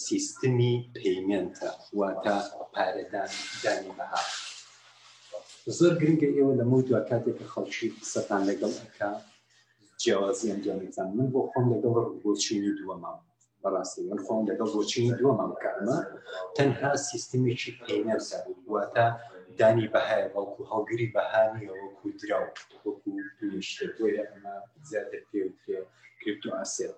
سیستمی پەیمێنتە واتە پارەدان دانی بەها زۆر گرنگە ئێوە لە مەوت دوای کاتێک کە خەڵکی قسەتان لەگەڵ ئەکا جیاوازی ئەنجامتان من بۆ خۆم لەگەڵ بۆچینی دووەمام بەڕاستی من خۆم لەگەڵ بۆچینی دووەمام کە ئەمە تەنها سیستمێکی پەیمێنتە واتە دانی بەهایە بەڵکو هەڵگری بەهانیە وەکو دراو وەکو شتێک بۆیە ئەمە زیاتر پێوترێ کریپتو ئاسێت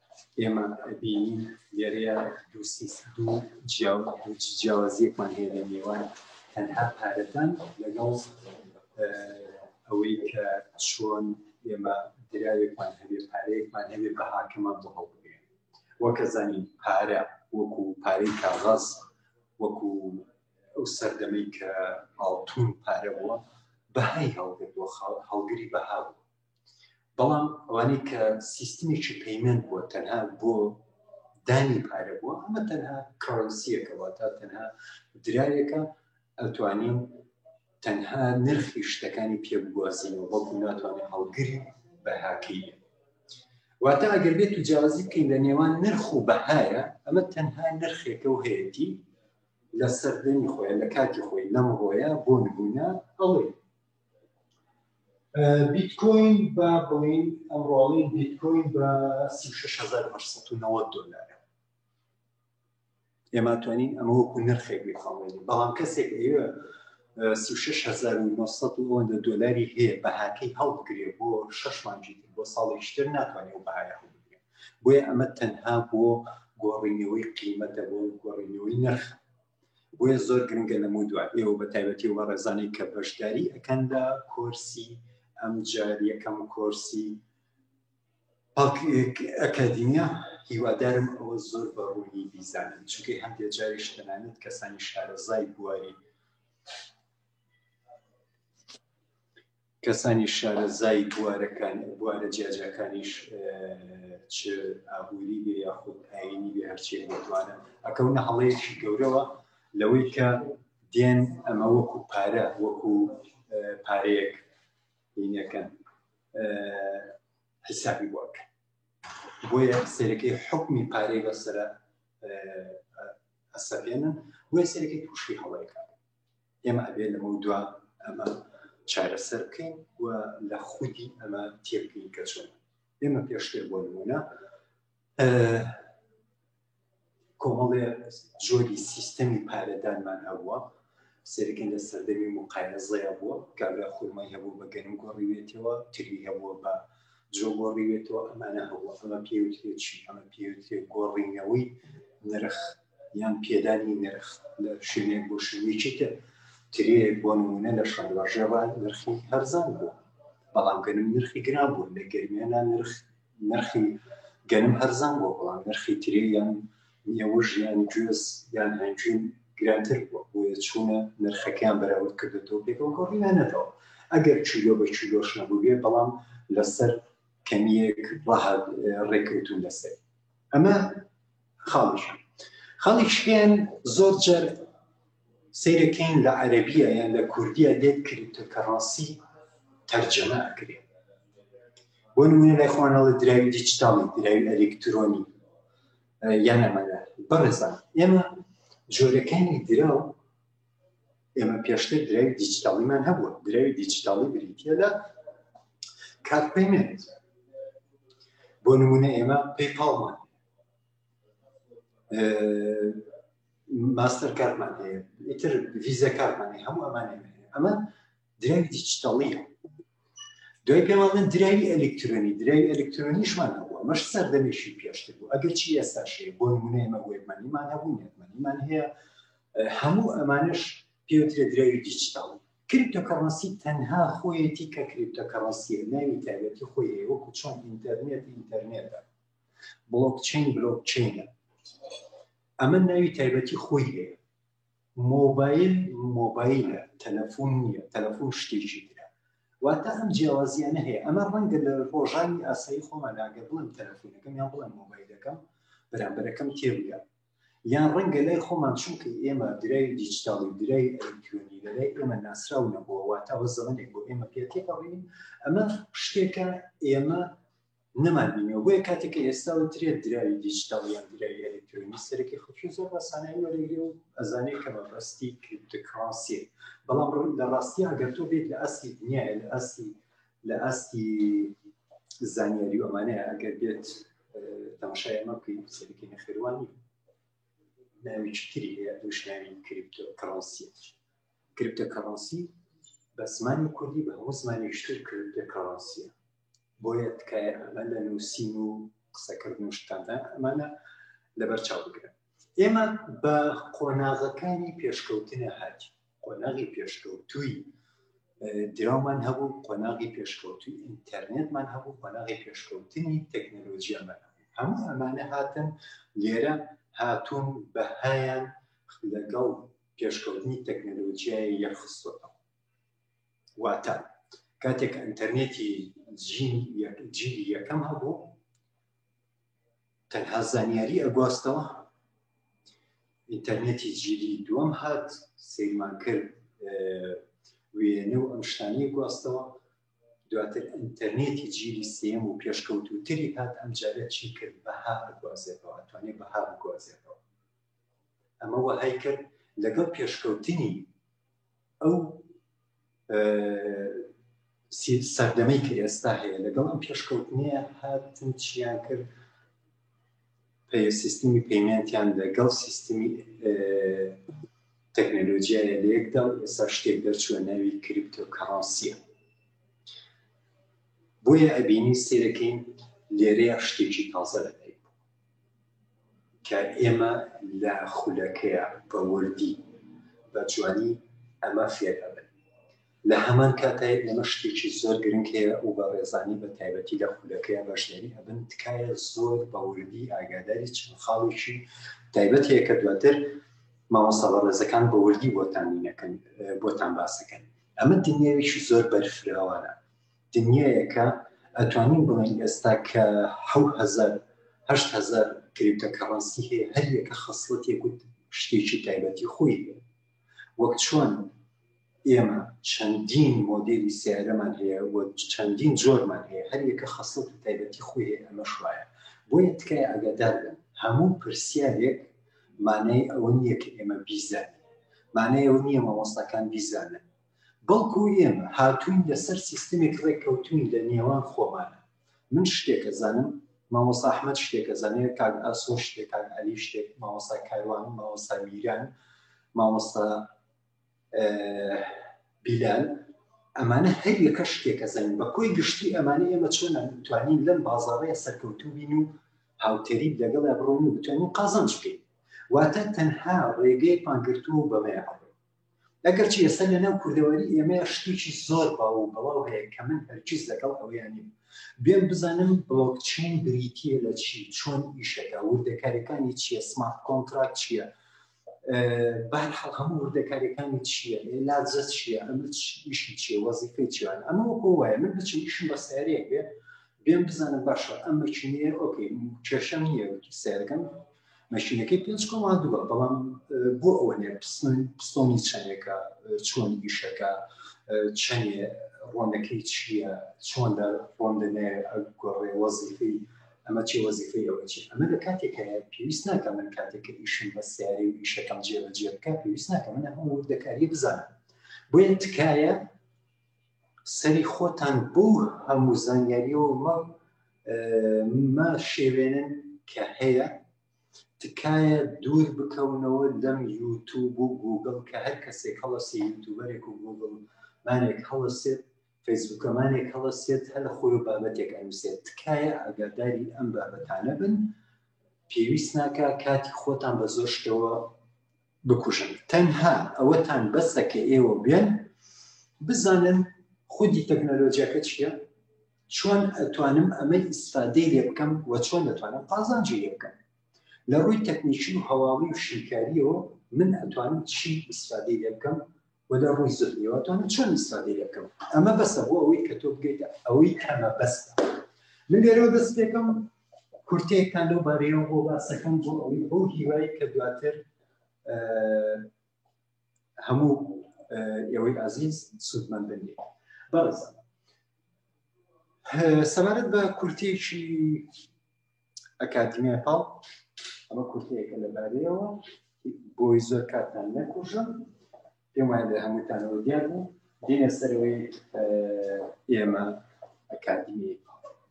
ئێمە بینین لێرەیە دوو جیاوازیەکمان هەیە لە نێوان تەنها پارەدان لەگەڵ ئەوەی کە چۆن ئێمە دراوێکمان هەبێ پارەیەکمان هەبێ بە حاکەمان بۆ هەڵبێ وەکە زانین پارە وەکو پارەی کاغاز وەکو ئەو سەردەمەی کە ئاڵتون پارە بووە بەهای هەڵگرتووە هەڵگری بەها بوو بەڵام ئەوانەی کە سیستمێکی پەیمەند بووە تەنها بۆ دانی پارە بووە ئەمە تەنها کڕنسیەکەەوە تا تەنها درایەکە ئەتوانین تەنها نرخی شتەکانی پێ بگوازینەوە بەڵکو ناتوانێت هەڵگری بەهاکەی بێت واتە ئەگەر بێت و جیاوازی بکەین لە نێوان نرخ و بەهایە ئەمە تەنها نرخێکە و هەیەتی لە سەردەنی خۆیان لە کاتی خۆی لەم ڕۆیە بۆ نبوونە ئەڵێ بیتکۆین بە بڵین ئەمڕۆڵین بیتکۆین بە 1990 دلار ئێمە توانین ئەمە وەکو نرخێک بخڵێنی بەڵام کەسێک ئێوە 1990 دلاری هەیە بەهاکەی هەڵبگرێ بۆ شش مانجی بۆ ساڵیشتر ناتوانێت و بەهایە هەڵبگرێ بۆیە ئەمە تەنها بۆ گۆڕینەوەی قیمەتە بۆ گۆڕینەوەی نرخ بۆیە زۆر گرنگە لە مو دوات ئێوە بە تایبەتی و بە ڕێزانەی کە بەشداری ئەەکەن لە کۆرسی ئەم جار یەکەم کۆرسی ئەکادیمیا هیوادارم ئەوە زۆر بە ڕوونی بیزانن چونکەی هەندێک جاری شتەنانێت کەسانی شارەزای بواری کەسانی شارەزای بوارەکان بوارە جیاجیاکانیش چ ئابووری بێ یاخود ئاینی بێ هەرچێک بێتوانە ئەکەونە هەڵەیەکی گەورەوە لەوەی کە دێن ئەمە وەکو پارە وەکو پارەیەک بینەکەن حسابی بۆک بۆیە سەرەکەی حکمی پارەی بەسرە ئەسەپێنن بۆیە سەرەکەی تووشی هەڵەیەکە ئێمە ئەبێ لەمە دوا ئەمە چارەسەر بکەین و لە خودی ئەمە تێبکەین کە چۆن ئێمە پێشتر بۆ نمونە کۆمەڵێ جۆری سیستەمی پارەدانمان هەبووە سەرکن لە سەردەمی مقایەزەیە بووە کابرا خورمای هەبوو بە گەنم گۆڕیوێتەوە تری هەبووە بە جۆ گۆڕیوێتەوە ئەمانە هەبوو ئەمە پێوتێت چی ئەمە پێوتێت گۆڕینەوەی نرخ یان پێدانی نرخ لە شوێنێک بۆ شوێنێکی تر ترێک بۆ نمونە لە شارواژێڕە نرخی هەرزان بوو بەڵام گەنم نرخی گران بوو لە گەرمیانە نرخ نرخی گەنم هەرزان بوو بەڵام نرخی ترێ یان نیەوە ژیان گوێز یان هەنجوین گرانتر بووە بۆیە چوونە نرخەکەیان بەراورد کردێتەوە پێکەوە گۆڕیانەتەوە ئەگەر چیلۆ بە چیلۆش نەبووێ بەڵام لەسەر کەمیەک ڕێکەوتون لەسەر ئەمە خاڵی شوێن خاڵی شوێن زۆر جار سیرەکەین لە عەربیە یان لە کوردیە لێت کردتە کە ڕاستی تەرجەمە ئەکرێت بۆ نمونە لای خوانەڵە دراوی دیجیتاڵی دراوی ئەلکترۆنی یان ئەمەە بەڕێزان ئێمە جۆرەکانی دراو ئێمە پێشتر دراوی دیجیتاڵیمان هەبووە دراوی دیجیتاڵی بریتە لە کارپەیمنت بۆ نمونە ئێمە پێپاڵمان ماستەر کارمان هەیە ئیتر ڤیزە کارمانی هەموو ئەمانێ ئەمە دراوی دیجیتەڵیە دوای پێماڵن دراوی ئەلکترۆنی دراوی ئەلکترۆنیشمان هەبووە مەش سەردەمێکی پێشتر بوو ئەگەر چی ئێستا شێ بۆ نمونەیمە وێبمانیمان هەبوو نێتمانیمان هەیە هەموو ئەمانش پێوترێ دراوی دیجیتاڵ کریپتۆکەڕەنسی تەنها خۆیەتی کە کریپتۆکەڕەنسیە ناوی تایبەتی خۆی وەکو چۆن ئینتەرنێت ئینتەرنێتە بڵۆکچین بلۆکچینە ئەمە ناوی تایبەتی خۆی هەیە مۆبایل مۆبایلە تەلەفۆن نیە تەلەفۆن شتێکی ترە واتە ئەم جیاوازیانە هەیە ئەمە ڕەنگە لە ڕۆژانی ئاسایی خۆمانناگە بڵم تەلەفۆنەکەم یان بڵم مۆبایلەکەم بەرامبەرەکەم تێبگە یان ڕەنگە لای خۆمان چونکە ئێمە درای دیجیتاڵی درای ئەلکترۆنی لەلای ئێمە ناسراو نەبووە واتەوە زەمنێک بۆ ئێمە پێتێپەڕین ئەمە شتێکە ئێمە نەمان بینیەوە بۆیە کاتێک کە ئێستا و ترێت دراوی دیجیتال یان دراوی ئەلکترۆنی سەرەکی خەڵکی زۆر باسانایی وەرەگرێ و ئەزانێت کە بەڕستی کریپتۆکراسیە بەڵام لە ڕاستی ئەگەر تۆ بێت لە ئەستی دنیاە لە ئەستی لە ئەستی زانیاری و ئەمانەیە ئەگەر بێت تەماشای ئەمە بکەین سەرکی نەخێوانی ناویکی تری هەیە دوشناوی کریپتۆکراسیە کریپتۆکراسیە بە زمانی کوردی بە هەموو زمانی شتر کردە کەڕاستە بۆیە تکایە ئەمە لە نووسین و قسەکردن و شتاندان ئەمانە لەبەر چاو بگرن ئێمە بە قۆناغەکانی پێشکەوتنە هاج قۆناغی پێشکەوتووی دراومان هەبوو قۆناغی پێشکەوتوی ئینتەرنێتمان هەبوو قۆناغی پێشکەوتنی تەکنەلۆژیامان هەموو ئەمانە هاتن لێرە هاتوون بە هەیان لەگەڵ پێشکەوتنی تەکنەلۆژیای یەخستۆتەوە واتە کاتێک ئەتەرنێتی جیلی یەکەم هەبوو تەنها زانیاری ئەگواستەوە ئینتەرنێتی جیلی دووەم هات سیرمان کرد وێنە و ئەم شتانی گواستەوە دواتر ئینتەرنێتی جیلی سێم و پێشکەوتوتری هات ئەم جارە چی کرد بەها ئەگوازێتەوە توانێت بەها بگوازێتەوە ئەمە وەهای کرد لەگەڵ پێشکەوتنی ئەو سەردەمەی کە ئێستا هەیە لەگەڵ ئەم پێشکەوتنیە هاتن چیان کرد پێ سیستمی پەیمنتیان لەگەڵ سیستمی تەکنەلۆژیایە لە یەکدا و ئێستا شتێک دەرچوە ناوی کریپتۆکانسیە بۆیە ئەبینی سێرەکەین لێرەیە شتێکی تازە دەکەین کە ئێمە لە خولەکەیا بە وردی بە جوانی ئەمە فێر ئەبن لە هەمان کاتای ئێمە شتێکی زۆر گرنگ هەیە و بە ڕێزانی بە تایبەتی لە خولەکەیا بەشداری ئەبن تکایە زۆر بە وردی ئاگاداری چەند خاڵێکی تایبەت هەیە کە دواتر مامۆستا بە ڕێزەکان بە وردی بۆتان نەکەن بۆتان باسەکەن ئەمە دنیاویشی زۆر بەرفراوانە دنیایەکە ئەتوانین بڵێن ئێستا کە حەوت هەزار هەشت هەزار کریپتە کەڕەنسی هەیە هەر یەکە خەسڵەتێک و شتێکی تایبەتی خۆی هەیە وەک چۆن ئێمە چەندین مۆدلی سیارەمان هەیە و چەندین جۆرمان هەیە هەر یەکە خەسڵەت و تایبەتی خۆی هەیە ئەمە شوایە بۆیە تکای ئەگەدار بن هەموو پرسیارێک مانای ئەوە نییە کە ئێمە بیزانین مانای ئەوە نییە مامۆستاکان بیزانن بەڵکو ئێمە هاتووین لەسەر سیستمێک ڕێککەوتووین لە نێوان خۆمانا. من شتێک ئەزانم، مامۆستا ئەحمەد شتێک ئەزانێت، کاک ئاسۆ شتێک، کاک عەلی شتێک، مامۆستا کاروان، مامۆستا میران، مامۆستا بیلال، ئەمانە هەر یەکە شتێک ئەزانین. بە کۆی گشتی ئەمانە ئێمە چۆن توانین لەم بازاڕەیە سەرکەوتوو بین و هاوتەریب لەگەڵیا بڕۆین و بتوانین قازانج بکەین. واتە تەنها ڕێگەیەکمان گرتووە و بەمەیە ئەڕۆین. ئەگەر چی ئێستا لە ناو کوردەواری ئێمەیە شتێکی زۆر باو و بەڵاو هەیە کە من هەرچیز لەگەڵ ئەوەیان نیم بێم بزانم بڵۆکچین بریتیە لە چی چۆن ئیشەکە وردەکارەکانی چییە سمارت کۆنتراکت چییە بەرحەڵ هەموو وردەکارەکانی چییە لازە چییە ئەمە ئیشی چیە وەزیفەی چیان ئەمە وەکۆ وایە من بچم ئیشم بە سیارەیەک بێ بێم بزانم باشە ئەم مەچینەیە ئۆکەی کێشەم نییە سیارەکەم مەشینەکەی پێنج کۆما دووە بەڵام بۆ ئەوە نێ پستۆنی چەندێکە چۆن ئیشەکە چەندێ ڕۆنەکەی چییە چۆن لە ڕۆن دەنێ گۆڕێ وەزیفی ئەمە چی وەزیفی ئەوە چی ئەمە لە کاتێک هەیە پێویست ناکە من کاتێک ئیشم بە سیاری و ئیشەکەم جێبەجێ بکە پێویست ناکە من هەموو وردەکاری بزانم بۆیە تکایە سەری خۆتان بۆ هەموو زانیاریەوە مە مە شێوێنن کە هەیە تکایە دوور بکەونەوە لەم یوتوب و گوگل کە هەر کەسێک هەڵەسێ یوتوبەرێک و گوگل مانێک هەڵەسێت فەیسبووکەمانێک هەڵەسێت هە لە خۆی و بابەتێک ئەنووسێت تکایە ئاگاداری ئەم بابەتانە بن پێویست ناکە کاتی خۆتان بە زۆر شتەوە بکوژن تەنها ئەوەتان بەسە کە ئێوە بێن بزانن خودی تەکنەلۆجیاکە چییە چۆن ئەتوانم ئەمە ئیسفادەی لێ بکەم و چۆن دەتوانم قازانجی لێ بکەم لە ڕووی تەکنیکی و هەواڵی و شیکاریەوە من ئەتوانم چی ئیسفادەی لێ بکەم و لە ڕووی زهنیەوە توانم چۆن ئیسفادەی لێ بکەم ئەمە بەسە بۆ ئەوەی کە تۆ بگەیتە ئەوەی کەمە بەستە من لێرەوە دەستێکم کورتەیەکتان لەو بارەیەوە بۆ باسەکەم بۆ ئەوی بۆ هیوای کە دواتر هەموو ئێوەی ئازیز سوودمەند بێت بەڕز سەبارەت بە کورتێکی ئەکادیمیای پاڵ ئەمە کورتەیەکە لەبارەیەوە بۆی زۆر کاتان نەکوژم پێم وایە لە هەمووتانەوە دیار بوو دێنە سەرەوەی ئێمە ئەکادمی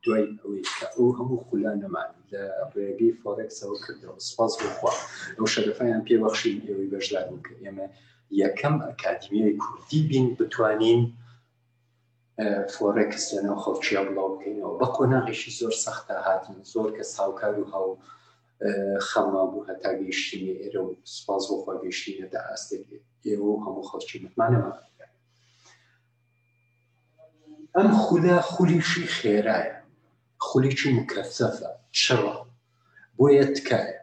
دوای ئەوەی کە ئەو هەموو خولا نەمان لە ڕێگەی فۆرێکسەوە کردەوە سپاس بخوا ئەو شەرفیان پێبەخشین ئێوەی بەشدار بوو کە ئێمە یەکەم ئەکادمیای کوردی بین بتوانین فۆرێکس لە ناو خەڵکییا بڵاو بکەینەوە بە قۆناغێکی زۆر سەختا هاتین زۆر کەس هاوکار و هاو خەما بوو هەتا گەیشتینە ئێرە و سپاس بۆخوا گەیشتینە دە ئاستێک ئێوە و هەموو خەڵکی متمانەوە ئەم خولە خولیشی خێرایە خولیکی مکەسەفە چڕە بۆیە تکایە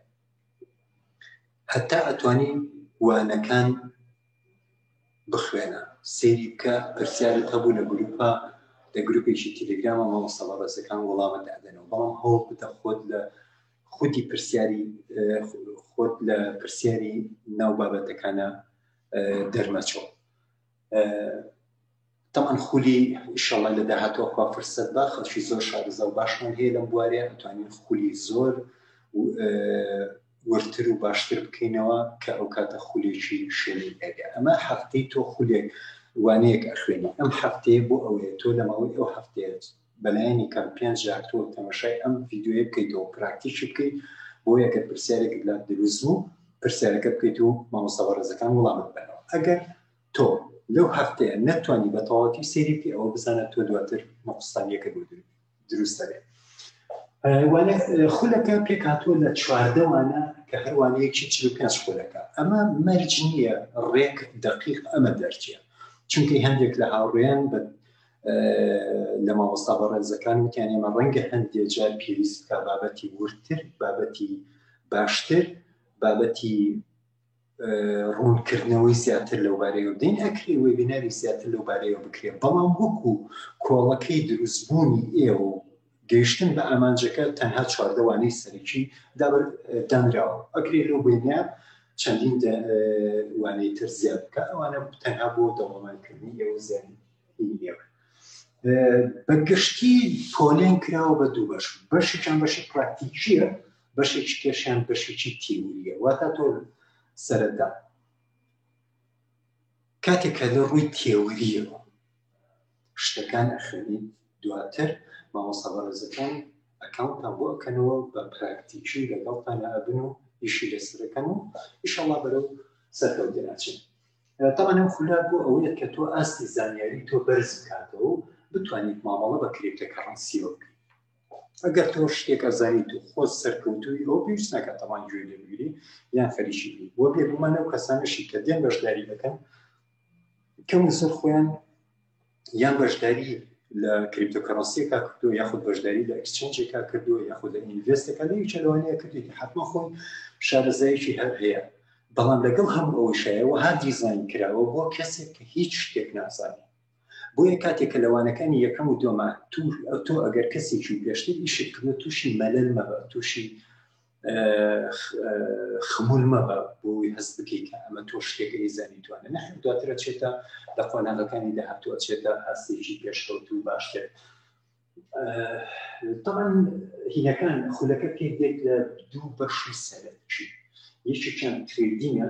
هەتا ئەتوانین وانەکان بخوێنە سێری بکە پرسیارت هەبوو لە گروپا لە گروپێکی تیلگرامە مامۆستا بەڕێزەکان وەڵامت دادەنەوە بەڵام هەوڵ بدە خۆت لە خودی پرسیاری خۆت لە پرسیاری ناو بابەتەکانە دەرمەچۆ تەبعەن خولی ئیشەڵا لە داهاتوە خوا فرسەت با خەڵکی زۆر شارەزا و باشمان هەیە لەم بوارەیە ئەتوانین خولی زۆر وردتر و باشتر بکەینەوە کە ئەو کاتە خولێکی شوێنی ئەگە ئەمە هەفتەی تۆ خولێک وانەیەک ئەخوێنی ئەم هەفتەیە بۆ ئەوەیە تۆ لە ماوەی ئەو هەفتەیە بەلایەنی کەم پێنج جار تۆ تەمەشای ئەم ڤیددیوە بکەیتەوە پراکتیکی بکەیت بۆ یەکە پرسیارێکت لا دروست بوو پرسیارەکە بکەیت و مامۆستا بەڕێزەکان وڵامت بنەوە ئەگەر تۆ لەو هەفتەیە نەتوانی بە تەواتی سێری بکە ئەوە بزانە تۆ دواتر مەقستانیەکە بۆ دروست دەبێت وانە خولەکە پێکاتوە لە چواردەوانە کە هەروانەیەکی چ پێ خولەکە ئەمە مەرج نییە ڕێک دقیق ئەمە دەرچە چونکی هەندێک لە هاوڕێیان بە لە مامۆستا بە ڕێزەکان وتیان ئێمە ڕەنگە هەندێ جار پێویست بکە بابەتی ورتر بابەتی باشتر بابەتی ڕوونکردنەوەی زیاتر لەو بارەیەوە بدەین ئەکرێ وێبیناری زیاتر لەو بارەیەوە بکرێت بەڵام وەکو کۆڵەکەی دروستبوونی ئێوە و گەیشتن بە ئامانجەکە تەنها چواردەوانەی سەرەکی دابر دانراوە ئەکرێ لەو بینە چەندین وانەی تر زیاد بکە ئەوانە تەنها بۆ دەوڵەمانکردنی ئێوە زیانی ئێوە بە گشتی پۆلێن کراوە بە دوو بەش بەشیان بەشی پراکتیکیە بەشێکی کێشیان بەشێکی تیوریە واتا تۆ سەرەتا کاتێک کە لە ڕووی تێوریەوە شتەکان ئەخەنی دواتر مامۆستا بەڕێزەکان ئەکاونتان بۆ ئەکەنەوە بە پراکتیکی لەگەڵتان ئەبن و ئیشی لەسەرەکەن و ئیشەڵا بەرەو سەرکەوت دەناچێت تاوان ئەم خولە بۆ ئەوەیە کە تۆ ئاستی زانیاری تۆ بەرز بکاتەوە و بتوانیت مامەڵە بە کرێتە کەڕەنسیەوە بکەیت ئەگەر تۆ شتێک ئەزانیت و خۆت سەرکەوتووی ئەو پێویست ناکات تەمان گوێ لێ بگری یان خەریکی بی بۆ بێگومان ئەو کەسانەشی کە دێن بەشداری دەکەن کەم زۆر خۆیان یان بەشداری لە کریپتۆکەڕەسیەکە کردو یاخود بەشداری لە ئەکسچنجێکا کردو یاخود لە ئینڤستەکە لە چلوانەیە کردێتی حتمما خۆی شارەزایکی هەر هەیە بەڵام لەگەڵ هەموو ئەوەشایەوە هەر دیزین کراوە بۆ کەسێک کە هیچ شتێک نازانێت بۆیە کاتێک کە لە وانەکانی یەکەم و دووەما توو تۆ ئەگەر کەسێکی پێشتر ئیشت کردو تووشی مەلەل مەبە تووشی خمول مەبە بۆی هەست بکەیت کە ئەمە تۆ شتێک ئەیزانی توانە نە دواترە چێتە لە قۆناغەکانی داهاتووە چێتە ئاستێکی پێشکەوت و باشتر طبعا هینەکان خولەکە پێک دێت لە دوو بەشی سەرەکی یەکێکیان ترێدینە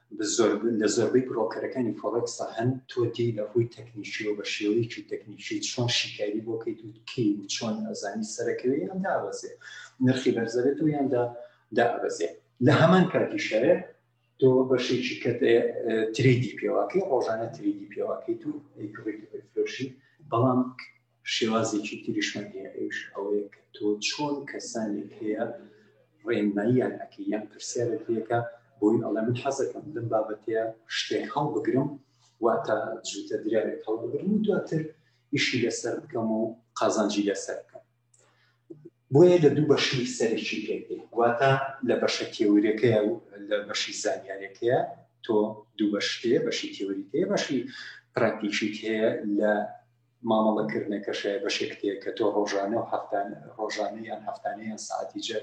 لە زۆربەی برۆکەرەکانی فۆڕێکسدا هەن، تۆ دێی لە ڕووی تەکنیکیەوە بە شێوەیەکی تەکنیکی چۆن شیکاری بۆ کەیت و کەی و چۆن ئەزانی سەرەکەوێ یان دابەزێ نرخی بەرزەبێت و یان دابەزێ لە هەمان کاتیشەوێ تۆ بەشێکی کە تریدی پێواکەی ڕۆژانە تریدی پێواکەیت و فرۆشی بەڵام شێوازێکی تریشمان هەیە ئەوش ئەوەیە کە تۆ چۆن کەسانێک هەیە ڕێنماییان ئەکە یان پرسیارە پێەکە بۆی ئەڵێ من حەزەکەم لەم بابەتەیە شتێک هەڵبگرم واتە جوتە دراوێک هەڵبگرم و دواتر ئیشی لەسەر بکەم و قازانجی لەسەر بکەم بۆیە لە دوو بەشی سەرکی پێێ واتە لە بەشە تێورەکەی و لە بەشی زانیارەکەیە تۆ دوو بەشتێ بەشی تێوریتەیە بەشی پراکتیشیت هەیە لە مامەڵە کردنەکەشە بەشێک تێ کە تۆ ڕۆژانە و هەفتانە ڕۆژانە یان هەفتانە یان ساعتی جە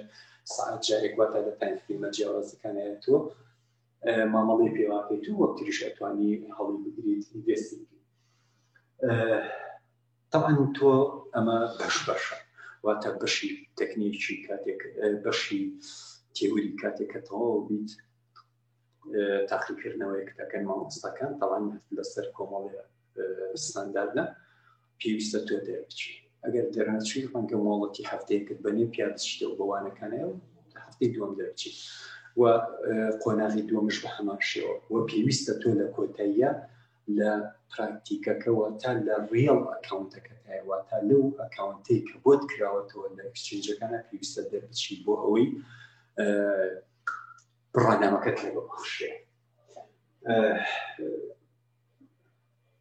ساعت جارێک واتە لە تایم فیلمە جیاوازەکانیان تۆ مامەڵی پێواکەیت و وەک تریش ئەتوانی هەڵی بگریت ئینڤستی طبعا تۆ ئەمە بەش بەشە واتە بەشی تەکنیکی کاتێک بەشی تێوری کاتێکەتەوە بیت تاقیکردنەوەیەک دەکەن مامۆستاکان تاوان لەسەر کۆمەڵێ ستانداردە پێویستە تۆ دەربچی ئەگەر دەرنەچوی ڕەنگە مۆڵەتی هەفتەیەکت بەنێ پیادشتەوە بەوانەکانەیە و هەفتەی دوم دەربچیت و قۆناغی دومش بە هەمان شێوە و پێویستە تۆ لە کۆتاییە لە پراکتیکەکەەوە تا لە ڕیڵ ئەکاونتەکەتایەوە تا لەو ئەکاونتی کە بۆت کراوەتەوە لە ئەکسچنجەکانە پێویستە دەربچی بۆ ئەوەی بڕوانامەکەت لە بەخشێ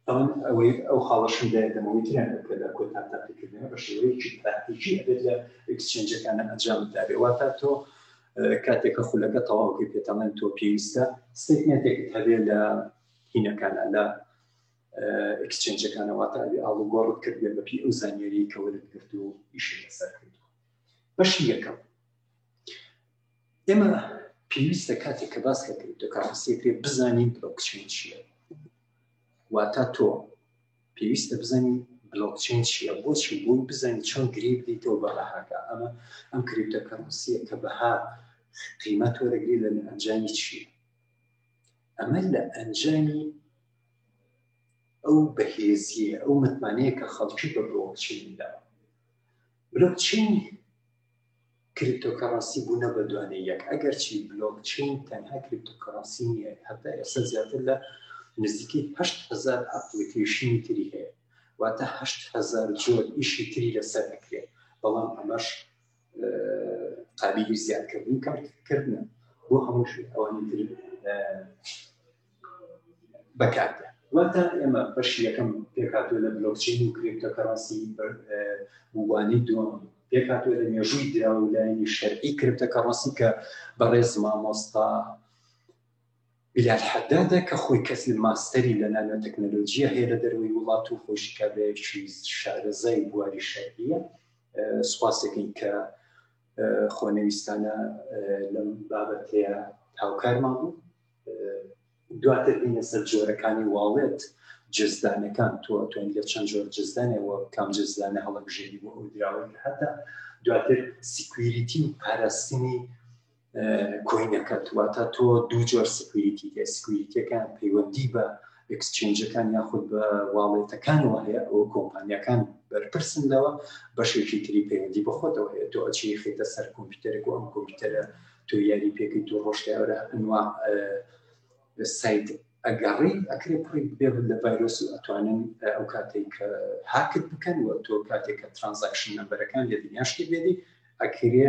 ئەوەن ئەوەی ئەو خاڵەشم لە دەمەوەی تریان کە لە کۆتا تاقیکردنە بە شێوەیەکی پراتیکی ئەبێت لە ئەکسچێنجەکانە ئەنجام دابێ واتە تۆ کاتێکە خولەکە تەواوکەی پێتەڵێن تۆ پێویستە ستێتمێتێکت هەبێ لە هینەکان لە ئەکسچێنجەکانەواتە ئەبێ ئاڵوگۆڕت کردێ بەپی ئەو زانیێری کەوەرت گرت و ئیشی لەسەر کرد بەشی یەکەم ئێمە پێویستە کاتێک کە باس لە کریپتۆ کارنسیە کرێ بزانین بلۆکچین چییە واتا تۆ پێویستە بزانین بلۆکچین چییە بۆچی بۆی بزانین چۆن گری بدەیتەوە بە بەهاکە ئەمە ئەم کریپتە کارنسیە کە بەها قیمەت وەرەگری لە ئەنجامی چییە ئەمە لە ئەنجامی ئەو بەهێزیە ئەو متمانەیە کە خەڵکی بە بلۆکچیندا بلۆکچین کریپتۆکەڕەنسی بوونە بە دوانەی یەک، ئەگەرچی بلۆکچەین تەنها کریپتۆکەڕەنسی نییە، هەتا ئێستا زیاتر لە نزیکەی هەشت هەزار ئەپڵیکەیشنی تری هەیە، واتە هەشت هەزار جۆر ئیشی تری لەسەر ئەکرێت، بەڵام ئەمەش قابیلی زیادکردنی کارکردنە بۆ هەموو ئەوانی تر. بەکاردێن واتە ئێمە بەشی یەکەم پێکاتوە لە بلۆکچین و کرێکتە کەڕەنسی بوانی دوم پێکاتوە لە مێژووی درا و لایەنی شەرعی کرێکتە کەڕەنسی کە بەڕێز مامۆستا بلال حەدادە کە خۆی کەسی ماستەری لە نانۆ تەکنەلۆژیە هەیە لە دەروی وڵات و خۆشی کابێکی شارەزای بواری شەرعیە سوپاسەکەین کە خۆنەویستانە لەم بابەتەیە هاوکارمان بوو دواتر بینە سەر جۆرەکانی واڵێت جزدانەکان تۆ توێن لە چەند جۆر جزدانەوە کام جزدانە هەڵبژێری بۆ ئەو دراوەی هەتا دواتر سیکویریتی و پاراستنی کۆینەکەت واتە تۆ دوو جۆر سکویریتی سکویریتەکان پەیوەندی بە ئکسچێنجەکان یاخود بە واڵێتەکانەوە هەیە ئەو کۆمپانیەکان بەرپرسن لەوە بەشێکی تری پەیوەندی بەخۆتەوە هەیە تۆ ئەچی خێتە سەر کۆمپیوتەرێک و ئەم کۆمپیوتەرە تۆ یاری پێکەی تۆ ڕۆشتیاورە ئەنوا سایت ئەگەڕی ئەکرێ پڕی بێ لە ڤایرۆس و ئەتوانن ئەو کاتێک کە هاکت بکەن و تۆ کاتێک کە ترانزاکشن نەمبەرەکان لێ دنیاشتی بێنی ئەکرێ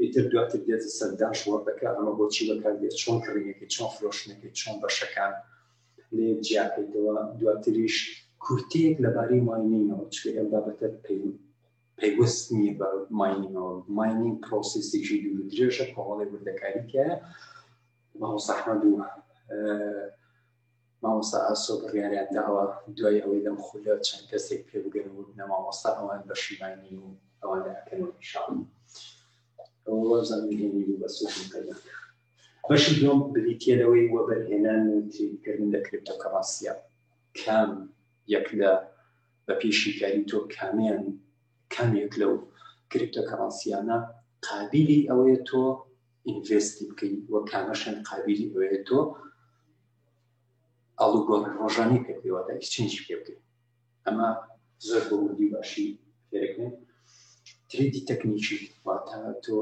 ئیتر دواتر دێتە سەر داش وەردەکە ئەمە بۆچی بەکاردێت چۆن کڕینەکەی چۆن فرۆشتنەکەی چۆن بەشەکان لێ جیاکەیتەوە دواتریش کورتەیەک لەبارەی ماینینەوە چکە ئەم بابەتە پەیوەست نییە بە ماینینەوە ماینین پرۆسیسێکی دوور درێژە کۆڵی وردەکاریکە ماوەسەحمە دووە مامۆستا ئاسۆ بڕیاریان داوە دوای ئەوەی لەم خولە چەند کەسێک پێ بگەن و نە مامۆستا ئەوان بەشی ماینی و ئەوان ئەکەنەوە ئینشاڵڵا والله زانم هێنی بوو بەس وشم پەیدا بەشی دوم بریتیە لەوەی وەبەرهێنان و تریدکردن لە کریپتۆکەڕەنسیە کام یەک لە بە پێی شیکاری تۆ کامیان کامێک لەو کریپتۆکەڕەنسیانە قابلی ئەوەیە تۆ ئینڤستی بکەین وە کامەشن قابلی ئەوەیە تۆ ئاڵوگۆڕ ڕۆژانی پێ پێوەدا ئیسچینجی پێ بکەین ئەمە زۆر بۆ وردی باشی فێرەکەین تریدی تەکنیکی واتە تۆ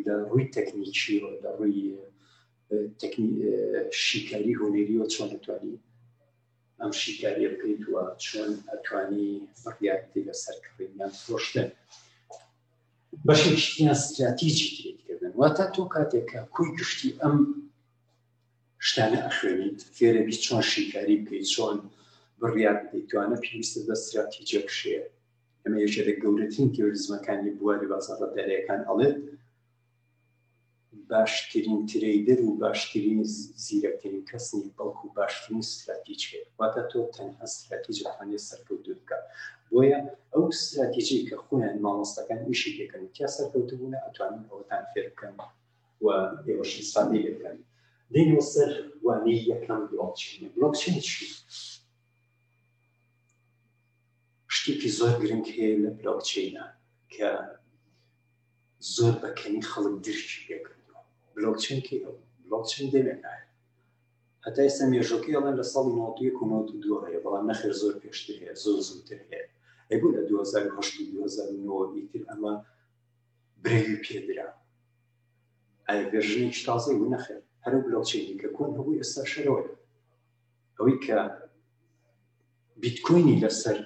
لە ڕووی تەکنیکی و لە ڕووی شیکاری هۆنێری و چۆن دەتوانی ئەم شیکاریە بکەیت وە چۆن ئەتوانی فڕیاتی لەسەر کڕینیان فرۆشتن بەشێکیان استراتیجی تێکردن واتە تۆ کاتێکە کوی گشتی ئەم شتانە ئەخوێنیت فێرە بیت چۆن شیکاری بکەیت چۆن بڕیار بدەیت دوانە پێویستە بە ستراتیجە بشێ ئەمە یەکێ لە گەورەترین تێوریزمەکانی بواری بازاڕە دەرەکان ئەڵێت باشترین ترەیدەر و باشترین زیرەکترین کەس نیە بەڵکو باشترین ستراتیج هەیە واتە تۆ تەنها ستراتیج ئەتوانێت سەرکەوتو بکە بۆیە ئەو ستراتیجی کە خۆیان مامۆستەکان ئیشی دەکەن کیا سەرکەوتبوونە ئەتوانن ئەوەتان فێر بکەن و ئێوەش ئیسفادەی لێ بکەن دێنەوە سەر وانەی یەکەم بڵۆکچینە بڵۆکچین چی شتێکی زۆر گرنگ هەیە لە بلۆکچینە کە زۆر بەکەنی خەڵک درکی پێکردەوە بلۆکچین کێ بلۆکچین دەمێنایە هەتا ئێستا مێژۆکەی ئەڵێن لە ساڵی نۆتویەک و نۆت و دووە هەیە بەڵام نەخێر زۆر پێشتر هەیە زۆر زووتر هەیە ئەی بۆ لە 2010 ئیتر ئەمە برەوی پێدرا ئایا ڤێرژنێکی تازەی و نەخێر هەرو بلۆکچەینی کە کۆن هەبوو ئێستا شەرەوەی ئەوەی کە بیتکۆینی لەسەر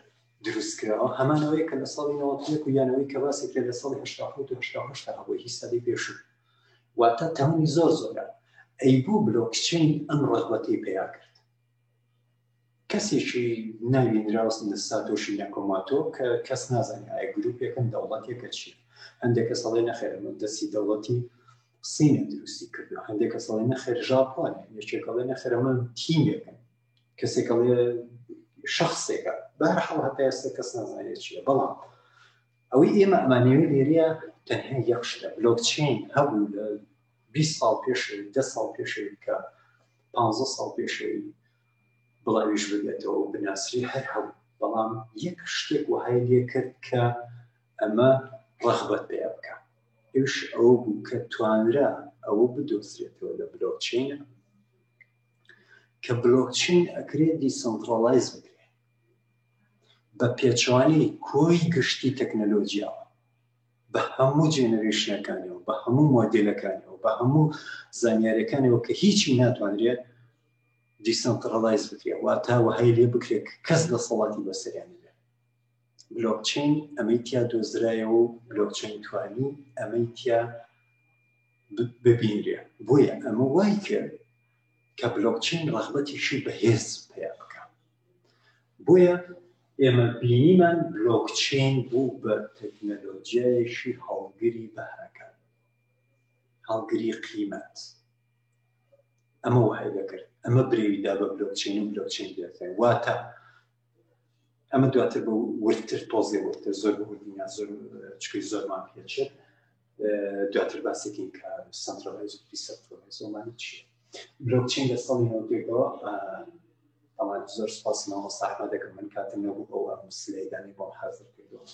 دروستکراوە هەمانەوەی کە لە ساڵی ناوەتێک و یانەوەی کە باسی کرد لە ساڵی هشتا هەبوو هی سەدی پێشوو واتە تەمەنی زۆر زۆرە ئەی بۆ بلۆکچین ئەم ڕغبەتی پیا کرد کەسێکی ناوی دراوس ساتۆشی ناکۆماتۆ کە کەس نازانێت ئایا گروپێکن دەوڵەتێکە چیە هەندێک کەس ئەڵێ نەخێرە مەبدەسی دەوڵەتی سینە دروستی کردو هەندێک کەس ئەڵێ نەخێر ژاپۆن یەکێک ئەڵێ نەخێرە من تیمێکن کەسێک ئەڵێ شخصێکە بەرحاڵ هەتا ئێستا کەس نازانێت چیە بەڵام ئەوەی ئێمە ئەمانەوە لێرەیە تەنها یەخشتە بلۆکچین هەبوو لە بیست ساڵ پێشەوی، دە ساڵ پێشەوی کە پانزە ساڵ پێشەوی بڵاویش ببێتەوە و بناسری هەر هەبوو، بەڵام یەک شتێک وەهای لێ کرد کە ئەمە ڕەغبەت پێیان بکا، ئەویش ئەوە بوو کە توانرا ئەوە بدۆزرێتەوە لە بلۆکچەین، کە بلۆکچەین ئەکرێ دیسەنتڕاڵایز بکرێ بە پێچەوانەی کۆی گشتی تەکنەلۆجیاوە، بە هەموو جێنەرێشنەکانیەوە، بە هەموو مۆدێلەکانیەوە، بە هەموو زانیاریەکانەوە کە هیچی ناتوانرێت دیسانتڕەڵایز بکرێت واتا وەهای لێ بکرێت کەس دەسەڵاتی بەسەریان بلۆکچین ئەمەی تیا دۆزرایەوە و بلۆکچین توانی ئەمەی تیا ببینرێ بۆیە ئەمە وای کرد کە بلۆکچین ڕغبەتیشی بەهێز پیا بکە بۆیە ئێمە بینیمان بلۆکچەین بوو بە تەکنەلۆجیایەکی هەڵگری بەهرەکان هەڵگری قیمەت ئەمە وای دەکرد ئەمە برێویدا بە بلۆکچین و بلۆکچین دەکەن واتە ئەمە دواتر بە وردتر تۆزێ وردتر زۆر بردینە زۆر چکی زۆرمان پێچێت دواتر باسێکین کە سنترالایز و دیسنترالایز ومانی چیە بلۆکچین لە ساڵی نەوتێکەوە ئەوان زۆر سپاس مامۆستا ئەحمەد دەکەم من کاتم نەبوو ئەو ئەم سلەیدانی بۆم حازر کردەوە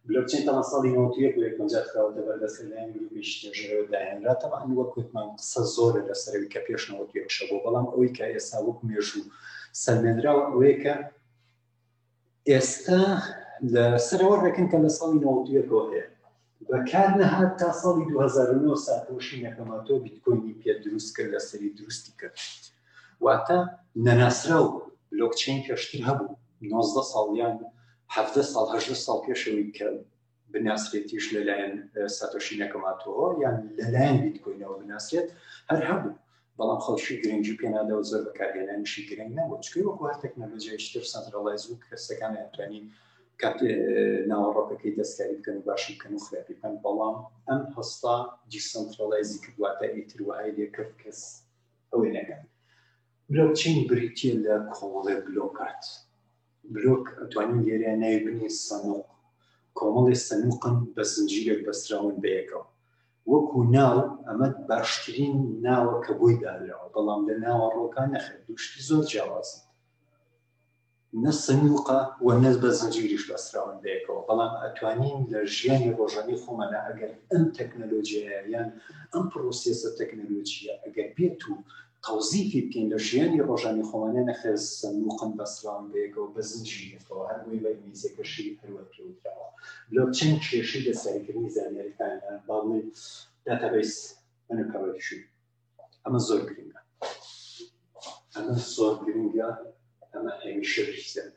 بلۆکچین تەمان ساڵی نەوتێک و یەکەمجار خراوەتە بەردەست لەلایەن گروپی شتێژەرەوە داهێنرا تەمان وەک وتمان قسە زۆرە لەسەرەوەی کە پێش نەوەتێکشە بۆ بەڵام ئەوەی کە ئێستا وەک مێژوو سەلمێنراوە ئەوەیە کە ئێستا لە سەرەوە ڕێکن کە لە ساڵی نەوەتیەکەوە هەیە بەکار نەهات تا ساڵی 2009 ساتۆشی نەکەماتۆ بیتکۆینی پێ دروست کرد لە سەری دروستی کرد واتە نەناسرا و بلۆکچین پێشتر هەبوو 19 ساڵیان هەفتە ساڵ هەشتە ساڵ پێشەوەی کە بناسرێتیش لەلایەن ساتۆشی نەکەماتەوە یان لەلایەن بیتکۆینەوە بناسرێت هەر هەبوو بەڵام خەڵکی گرنگی پێنادەوە زۆر بەکارهێنانیشی گرنگ نەبوو چکەی وەکو هەر تەکنەلۆژیایشتر سەنترڵایز و کەسەکان ئەتوانی کات ناوەڕۆکەکەی دەستکاری بکەن باشی بکەن و خراپی بکەن بەڵام ئەم هەستا دیسەنترڵایزی کردواتە ئیتر وهای لێکرد کەس ئەوەی نەکەن بلۆکچین بریتە لە کۆڵێ بلۆکات بلۆک ئەتوانین لێرە ناوی بنین سەنوق کۆمەڵێ سەنوقن بە زنجیرێک بەستراون بەیەکەوە وەکو ناو ئەمە باشترین ناوە کە بۆی دانراوە بەڵام لە ناوە ڕۆکان نەخێت دوشتی زۆر جیاوازن نە سنوقە و نەز بە زنجیریش بەستراون بەیەکەوە بەڵام ئەتوانین لە ژیانی ڕۆژانی خۆمانە ئەگەر ئەم تەکنەلۆژیایان ئەم پرۆسیسە تەکنەلۆژیە ئەگەر بێت و تەوزیفی بکەین لە ژیانی ڕۆژانی خۆمانە نەخێر سەندوقن بەسراون بەیەکەوە بە زنجی یەکەوە هەر بۆیە بە ئینگلیزیەکەشی هەروە پێوتراوە بلۆکچین کێشەی دەستکاریکردنی زانیاریەکانە با بڵێن داتابەیس ئەنەکەڕێکشی ئەمە زۆر گرنگە ئەمە زۆر گرنگە ئەمە هەمیشە بریزێن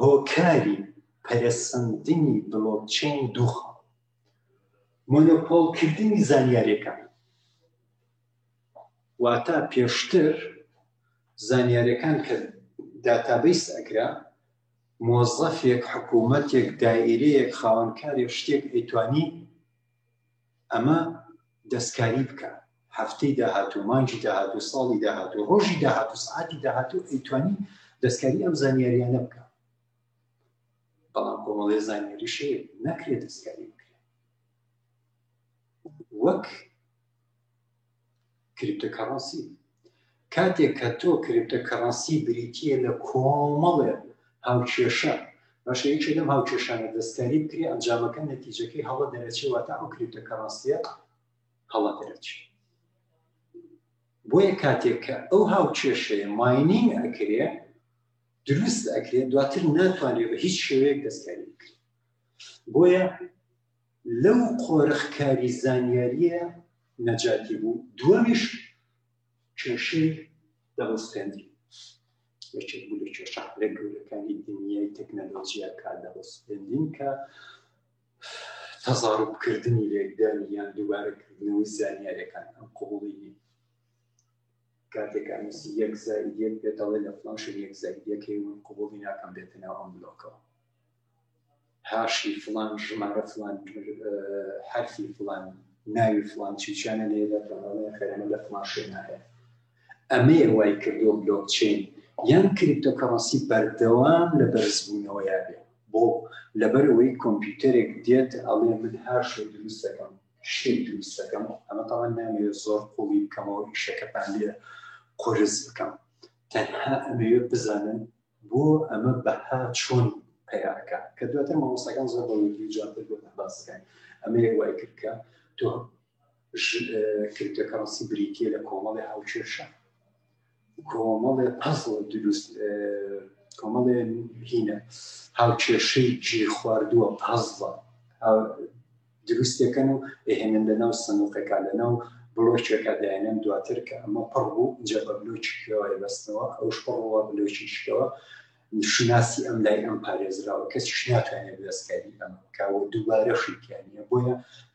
هۆکاری پەرەسەندنی بلۆکچین دووخە مۆنۆپۆڵکردنی زانیاریەکان واتا پێشتر زانیاریەکان کە داتابیس ئەکرا مۆزەفێک حکوومەتێک دایرەیەک خاوەنکاری شتێک ئەیتوانی ئەمە دەستکاری بکە هەفتەی داهاتوو مانجی داهاتوو ساڵی داهاتوو ڕۆژی داهاتوو سعاتی داهاتوو ئەیتوانی دەستکاری ئەم زانیاریانە بکە بەڵام کۆمەڵی زانیاریشێ نەکرێت دەستکاری بکرێت وەک کریپتە کەڕەنسی کاتێک کە تۆ کریپتە کەڕەنسی بریتە لە کۆمەڵێ هاوکێشە باشە یەکێ لەم هاوکێشانە دەستکاری بکرێ ئەنجامەکە نەتیجەکەی هەڵە دەرەچێەوە تا ئەو کریپتە کەڕاستە هەڵە دەرەچێت بۆیە کاتێک کە ئەو هاوکێشەیە ماینین ئەکرێ دروست ئەکرێت دواتر ناتوانێت بە هیچ شێوەیەک دەستکاری بکرێت بۆیە لەو قۆرخکاری زانیاریە نەجاتی بوو دووەمیش کێشەی دەبستێنی یەکێک بوو لە کێشە لە گەورەکانی دنیای تەکنەلۆژیا کا دەبستێنین کە تەزاربکردنی لێکدانی یان دووبارەکردنەوەی زانیارەکان ئەم قوڵی کاتێک ئەنوسی یەک زائید یەک پێت ئەڵێ لە فڵان شوێن یەک زائید یەک هەیە من قبوڵی ناکەم بێتە ناو ئەم بلۆکەوە هاشی فڵان ژمارە فڵان حرفی فڵان ناوی فڵان چیچانە لێ لە فڵانە خەرەمە لە فڵان شوێنە هەیە ئەمەیە وای کردو بلۆک چین یان کریپتۆ کەڕەسی بەردەوام لە بەرزبوونەوە یابێ بۆ لەبەرەوەی کۆمپیوتەرێک دێت ئەڵێ من هاشێ دروستەکەم شتێک دروست دەکەم ئەمە تاوان نامەوێت زۆر قوڵی بکەمەوە ئیشەکەتان لێ قرس بکەم تەنها ئەمەوێت بزانن بۆ ئەمە بەها چۆن پیاکە کە دواتر مامۆستاکان زۆر بەوەی جاتر بۆ باسەکان ئەمە وای کردکە تۆ کردەکەڕسی بریتە لە کۆمەڵی هاوچێشە کۆمەڵێ پەزڵ دروست کۆمەڵێ هینە هاوکێشەی جێ خواردووە پازڵە دروستەکەن و دەهێنن لە ناو سنوقەکە لە ناو بلۆچێکە داێنن دواتر کە ئەمە پڕ بوو جە بە بلوچکەوە بەستنەوە ئەوش پڕەوە بلوچیشکەوە شناسی ئەم لای ئەم پارێزراوە کەسیش ناتوانێت دەستکاری ئەم کاوە دووبارە شیکیانە بۆیە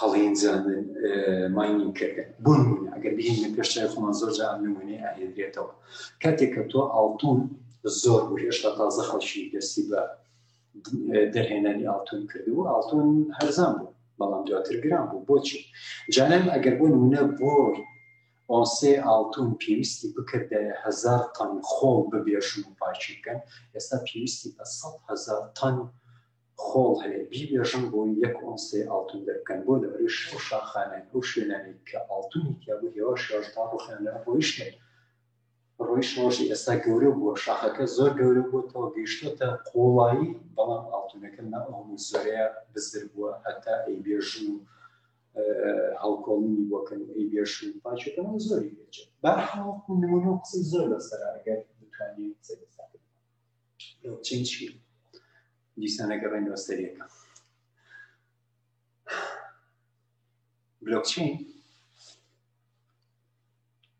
هەڵێنجاندن، Mining، کردن. بۆ نموونە ئەگەر بهێنینە پێش چاوی خۆمان زۆر جار ئەم نموونەیە ئەهێنرێتەوە. کاتێک کە تۆ ئاڵتوون زۆر بوو هێشتا تازە خەڵکی دەستی بە دەرهێنانی ئاڵتوون کردبوو ئاڵتوون هەرزان بوو بەڵام دواتر گران بوو بۆچی جانان ئەگەر بۆ نمونە بۆ ئۆنسێ ئاڵتون پێویستی بکردە هزار تەن خۆڵ ببێژن و پاچی بکەن ئێستا پێویستی بە سەد هزار تەن خۆڵ هەیە بیبێژن بۆی یەک ئۆنسێ ئاڵتون دەربکەن بۆ لەبەرەی شەش و شاخانەی ئەو شوێنانەی کە ئاڵتونی تیابوو هێواش هێواش تا ڕۆخیان لەوێ ڕۆیشتن ڕۆیشتەوەشی ئێستا گەورە بووە شاخەکە زۆر گەورە بووەتەوە گەیشتۆتە قوڵایی بەڵام ئاڵتونەکە نا ئەو هەموو زۆرەیە بزر بووە هەتا ئەی بێژن و هەڵکۆڵینی بۆکەن و ئەی بێش و پاچەکەەوە زۆری بێچێت بەرحاڵ نمونە قسەی زۆر لەسەر ئەگەر بتوانین قسەی بلۆکچین چیە دیسانەکە بە نۆستەریەکە بلۆکچین